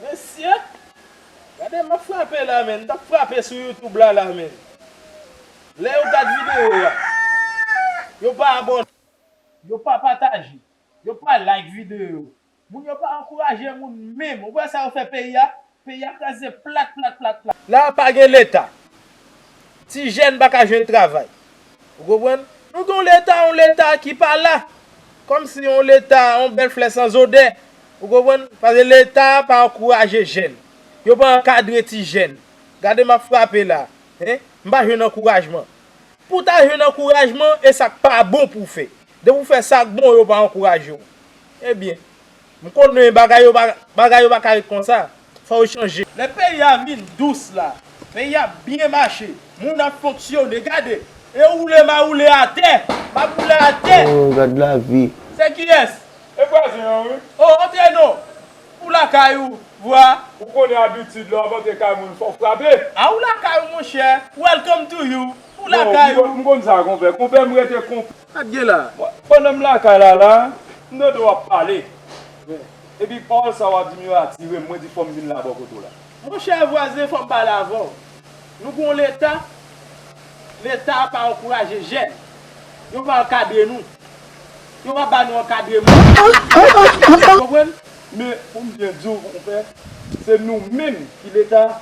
Mesye Gade map frape la menn mtap frape sou YouTube la la menn Lè yo gad video a Yo pa abone Yo pa pataje Yo pa like video Moun yo pa ankouraje moun menm Ou wè sa yo fè peyi a Peyi a kraze plat plat plat plat. La a pa gen leta Ti jèn pa ka jwenn travay Ou konprann Nou gen yon leta yon leta ki pa la Kòmsi yon leta yon bèl flè san zodè Ou konprann? Paske leta a pa ankouraje jèn. Yo pa ankadre ti jèn. Gade m ap frape la. Hein? M pa jwenn ankourajman. Pou w ta jwenn ankourajman, e sa k pa bon pou w fè. Depi w fè sa k bon, yo pa ankouraje w. Ebyen, m konnen bagay yo pa ka ret konsa. Fò yo chanje. Lè peyi a vin dous la. Peyi ap byen mache. Moun ap fonksyone. Gade! E woule ma woule atè! Map woule atè! Oh gad lavi! Se kiyès? E vwazen an wi. Oh antre non! Ou lakay ou, vwa. Ou konnen abitid lè wap antre kay moun fòw frape. Ah ou lakay ou monchè! Welcome to you! Ou lakay ou. Bon, m konn sa konpè. Konpè m rete konpè. Sa k gen la a? Pandan m lakay la la a, m tande w ap pale. Epi pawòl sa w ap di m yo atire m, mwen di fò m vin la bò kote w la. Monchè vwazen fò m pale avè w. Nou gen yon Leta, Leta a pa ankouraje jèn. Yo pa ankadre nou. Yo pa ba nou ankadreman. Ou konprann? Men pou m byen di w, monpè, se nou menm ki Leta a,